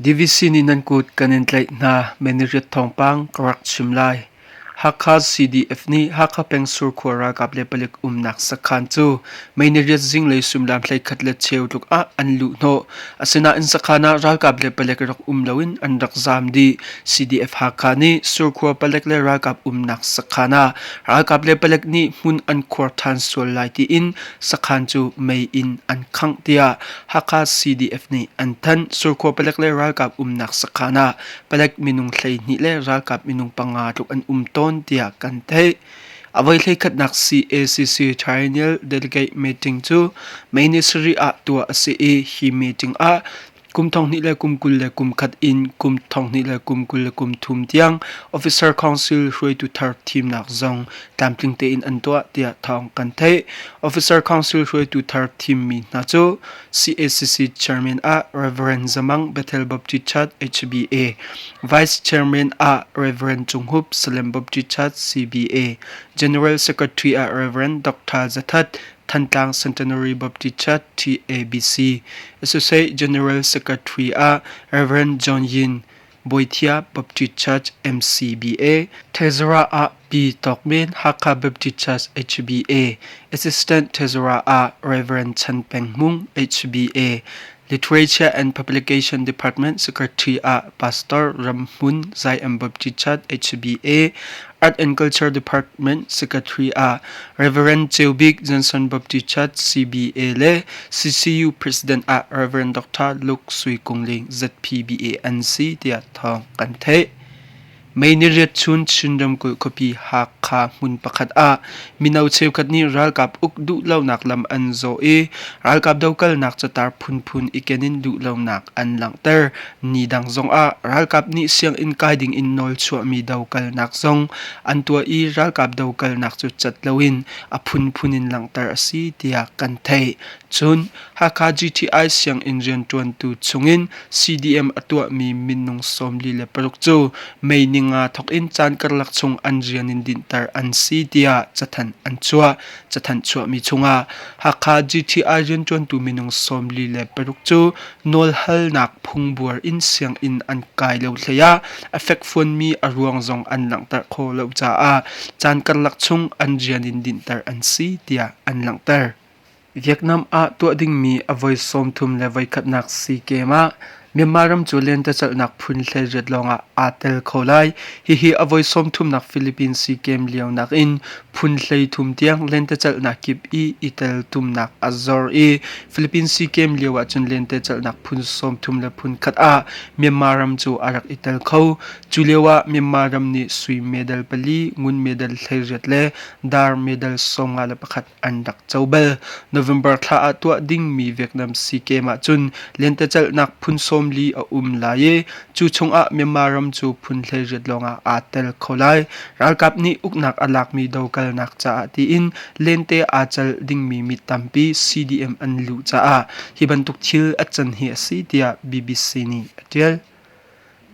Divisi nih nan kut kan in tlaih hna Miniriat thawngpang ka rak chim lai. Hakha CDF nih Hakha peng Surkhua ralkap le palik umnak sakhan cu Mei niriat zinglei suimilam hleikhat le cheu tluk ah an luh hnawh. Asinain sakhan ah ralkap le palek rak um loin an rak zaam dih. CDF Hakha nih surkhua palek le ralkap umnak sakhan ah ralkap le palek nih hmun an khuar ṭhan sual lai tiin sakhan cu mei in an khangh tiah Hakha CDF nih an thanh. Surkhua palek le ralkap umnak sakhan ah palek minung hleihnih le ralkap minung panga tluk an um tawn tiah kan theih. A voi hleikhatnak CACC Triennial Delegate Meeting cu May ni sarih ah tuah a si i hi meeting ah kum thonghnih le kum kul le kum khat in kum thonghnih le kum kul le kum thum tiang Officer Council hruaitu thar thimnak zong tlamtling tein an tuah tiah thawng kan theih. Officer Council hruaitu thar thimmi hna cu CACC chairman ah Reverend Zamang Bethel Baptist Church HBA, Vice Chairman ah Reverend Cung Hup Salem Baptist Church CBA, General Secretary ah Reverend Dr. Zathat Thantlang Centenary Baptist Church TABC, Associate General Secretary ah Reverend John Yin, Bawihthiah Baptist Church MCBA, Tezara ah Pi Tawk Men Hakha Baptist Church HBA, Assistant Tezara ah Reverend Chan Peng Mung HBA, Literature and Publication Department Secretary ah Pastor Ram Hmun Zion Baptist Church HBA, Art and Culture Department Secretary ah Reverend Ceu Bik Johnson Baptist Church CBA le CCU President ah Reverend Dr. Luke Sui Kung Ling ZPBA an si tiah thawng kan theih. May ni riat chun Chin ramkulh khuapi Hakha hmun pakhat ah mino cheukhat nih ralkap uk duh lonak lam an zaw i ralkap dokalnak catar phunphun i kenin duh lonak an langhter Nidang zongah ralkap nih sianginn kai dingin nawlchuahmi dokalnak zong an tuah i ralkap dokalnak cu cat loin a phunphun in langhter a si tiah kan theih. Cun Hakha GTI sianginn rianṭuantu chungin CDM a tuahmi minung sawmli le paruk cu May ni nga thawk in caan karlak chung an rian in dinhter an si tiah cathanh an chuah. Cathanh chuahmi chungah Hakha GTI rianṭuantu minung sawmli le paruk cu nawlhalnak phungbuar inn sianginn an kai lo hleiah a fekfuanmi a ruang zong an langhter khawh lo caah caan karlak chung an rian in dinhter an si tiah an langhter. Vietnam ah tuah dingmi a voi sawmthum le voikhatnak SEA Games ah Myanmar ram cu lentecelhnak phun hleiriat lawngah aa tel kho lai. Hihi a voi sawmthumnak Philippines SEA Games lio nakin phun hleithum tiang lentecelhnak kip i i tel tumnak a zor i Philippines SEA Games lio ahcun lentecelhnak phun sawmthum le phun khat ah Myanmar ram cu a rak i tel kho. Cu lioah Myanmar ram nih sui medal pali, ngun medal hleiriat le dar medal sawmnga le pakhat an rak co bal. November thla ah tuah dingmi Vietnam Sea Games ahcun lentecelhnak phun sawmli a um lai i cu chungah Myanmar ram cu phun hleiriat lawngah aa tel kho lai. Ralkap nih uknak a lakmi dokalnak caah tiin lente aa cel dingmi mi tampi CDM an luh caah hi bantuk thil a can hi a si tiah BBC nih a tial.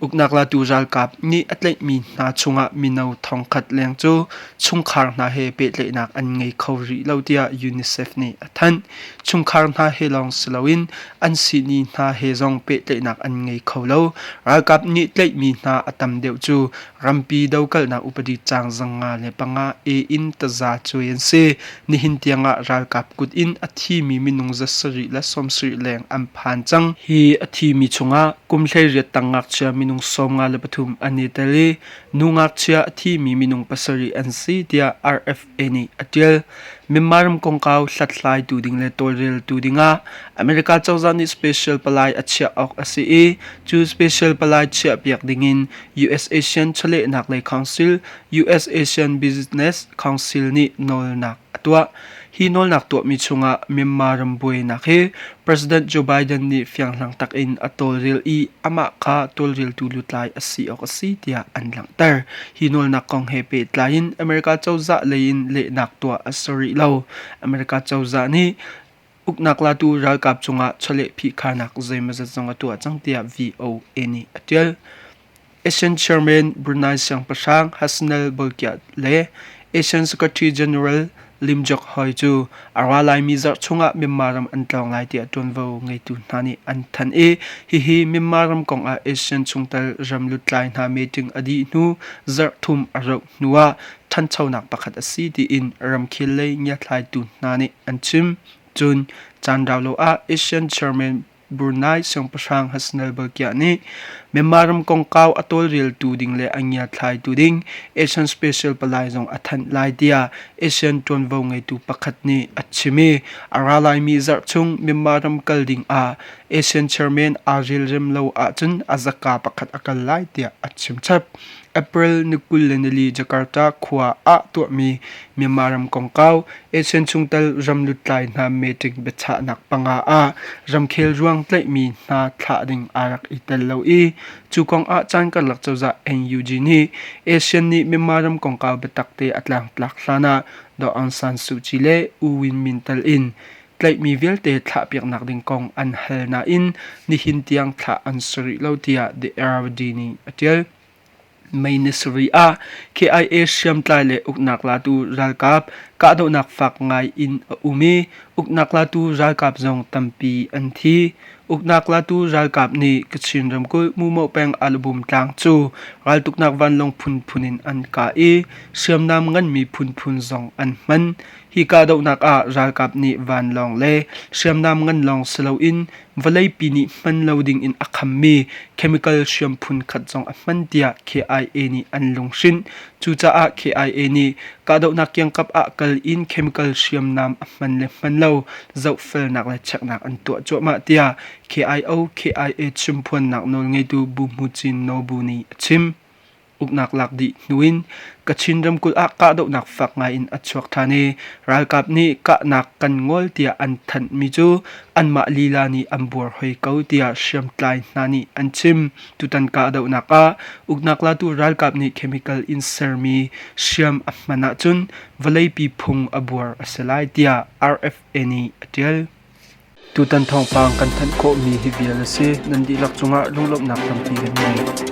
Uknak latu ralkap nih a tlaihmi hna chungah mino thongkhat leng cu chungkhar hna he pehtlaihnak an ngei kho rih lo tiah UNICEF nih a thanh. Chungkhar hna he lawng si loin an sihni hna he zong pehtlaihnak an ngei kho lo. Ralkap nih tlaihmi hna a tam deuh cu Rampi dokalnak upadi caang zanga le panga e in taza cuai an si. Nihin tiangah ralkap kut in a thimi minung za sarih le sawmsarih leng an phan cang. Hi a thimi chungah kum hleiriat tang ngakchia minung sawmnga le pathum an i tel i nu ngakchia a thimi minung pasarih an si tiah RF ei nih a ṭial. Myanmar ram kongkau hlathlai tu ding le tawlrel tu dingah America cozah nih special palai a chiah awk a si i cu special palai chiahpiak dingin US Asian Chawlehnak Lei Council US Asian Business Council nih nawlnak a tuah. Hi nawlnak tuahmi chungah Myanmar ram buainak hi President Joe Biden nih fianghlang takin a tawlrel i amah kha tawlreltu lutlai a si awk a si tiah an langhter. Hi nawlnak kong he pehtlai in America cozah lei in lehnak tuah a si rih lo. America cozah nih uknak latu ralkap cungah chawleh phihkhanak zeimawzat zong a tuah cang tiah VOA nih a tial. Asian Chairman Brunei Siangpahrang Hassanal Bolkiah le Asian Secretary General Lim Jock Hoy cu a ra laimi zarh chungah Myanmar ram an tlawng lai tiah ṭuanvo ngeitu hna nih an thanh i hihi Myanmar ram kongah Asian chungtel ram lutlai hna meeting a dih hnu zarh thum a rauh hnuah ṭhanchonak pakhat a si tiin ramkhel lei ngiathlaitu hna nih an chim. Cun caan rau lo ah Asian Chairman Brunei siangpahrang Hassanal Balkiah nih Myanmar ram kongkau a tawlreltu ding le a ngiathlaitu ding Asian Special Palai zong a thanh lai tiah Asian ṭuanvo ngeitu pakhat nih a chim i a ra laimi zarh chung Myanmar ram kal ding ah Asian chairman aa relrem lo ahcun a zaka pakhat a kal lai tiah a chimchap. April ni kul le nili Jakarta khua ah tuahmi Myanmar ram kongkau Asian chungtel ramlutlai hna meeting biachahnak panga ah ramkhel ruang tlaihmi hna thlah ding aa rak i tel lo i cu kong ah caan karlak cozah NUG nih ASEAN nih Myanmar ram kongkau biatakte a tlangtlak hlan ah Aung San Suu Kyi le U Win Min tel in tlaihmi vialte thlahpiaknak ding kong an hal nain nihin tiang thlah an si rih lo tiah The RRD nih a ṭial. May ni sarih ah KIA hriamtlai le uknak latu ralkap kahdohnak fak ngai in a um i uknak latu ralkap zong tampi an thi. Uknak latu ralkap nih Kachin ramkulh Mumo peng Alabum tlang cu raltuknak vanlawng phunphun in an kah i hriamnam nganmi phunphun zong an hman. Hi kahdohnak ah ralkap nih vanlawng le hriamnam ngan lawng si loin vawleipi nih hman lo dingin a khammi chemical hriam phun khat zong a hman tiah KIA nih an lunghrinh. Cucaah KIA nih kahdohnak kiangkap ah kal in chemical hriamnam a hman le hman lo zohfelnak le cheknak an tuah cuahmah tiah KIO KIA chimphuannak nawlngeitu Bu Hmu Cin Nobu nih a chim. uknak lak dih hnu in Kachin ramkulh ah kahdohnak fak ngai in a chuak ṭhan i ralkap nih kahnak kan ngol tiah an thanh mi cu anmah lila nih an buar hoi ko tiah hriamtlai hna nih an chim tutan kahdohnak ah uknak latu ralkap nih chemical in sermi hriam a hman ahcun vawleipi phung a buar a si lai tiah RFA nih a ṭial Tutan thawngpang kan thanh khawhmi hi vial a si. Nan dihlak cungah lunglawmhnak tampi kan ngei.